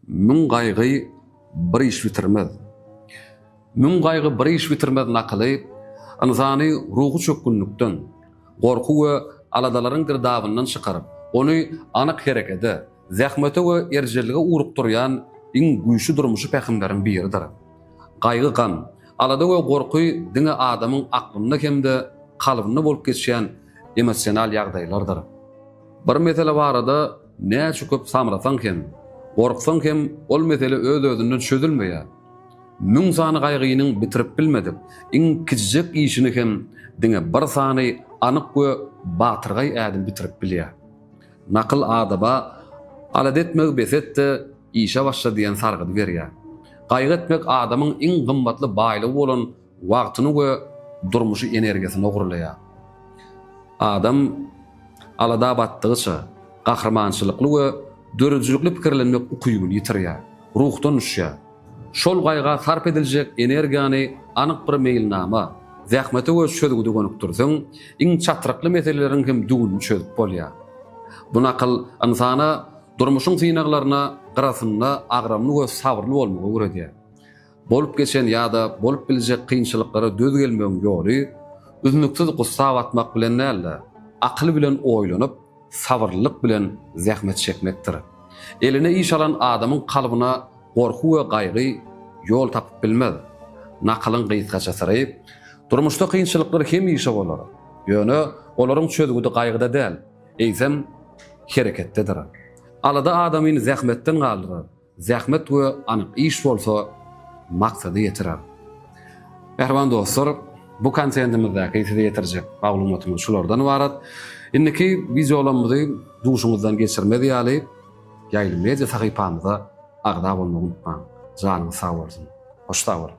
Müň gaýgy bir iş bitirmez. Müň gaýgy bir iş bitirmez nakyly ynsany ruhy çökgünlikden, gorky we aladalaryň girdabyndan çykaryp, ony anyk herekede, zähmete we erjellige ugrukdyrýan iň güýçli durmuşy pähimleriň biridir. Gaýgy-gam, alada we gorky diňe adamyň aklynda hem-de kalbynda bolup geçýän emosional ýagdaýlardyr. Bir mesele barada Näçe köp samrasaň hem, gorksaň hem ol mesele öz-özünden çözülmeýär. Müň sany gaýgynyň bitirip bilmedik iň kiçijek işini hem diňe bir sany anyk we batyrgaý ädim bitirip bilýär. Nakyl adaba Alada etmegi bes et-de, işe başla diýen sargydy berýär. Gaýgy etmek adamyň iň gymmatly baýlygy bolan Wagtyny we durmuşy energiýasyny ogurlaýar. Adam alada batdygyça, gahrymançylykly we döredijilikli pikirlenmek ukybyny ýitirýär, ruhdan düşýär. Şol gaýga sarp ediljek energiýany anyk bir meýilnama, zähmete we çözgüde gönükdirseň, iň çatrykly meseleleriň hem düwünini çözüp bolýar. Bu nakyl ynsana durmuşyň synaglaryna gyrasynda agramly we sabyrly bolmagy öwredýär. Bolup geçen ýa-da bolup biljek kynçylyklara döz gelmegiň ýoly üznüksiz gussa batmak bilen däl-de, akyl bilen oýlanyp, sabyrlylyk bilen zähmet çekmekdir. Eline iş alan adamyň kalbyna gorky we gaýgy ýol tapyp bilmez. Nakylyň gysgaça syry, Durmuşda kynçylyklar hemişe bolar. Ýöne olaryň çözgüdi gaýgyda däl, eýsem, hereketdedir. Alada adamyny zähmetden galdyrar. Zähmet we anyk iş bolsa maksady ýetirer. Mähriban dostlar, bu kontentimizdäki size ýetirjek maglumatymyz şulardan ybarat. Indiki wideolarymyzy duşuňyzdan geçirmez ýaly Ýaýly media sahypamyza agza bolmagy unutmaň. Janyňyz sag bolsun. Hoş sag boluň.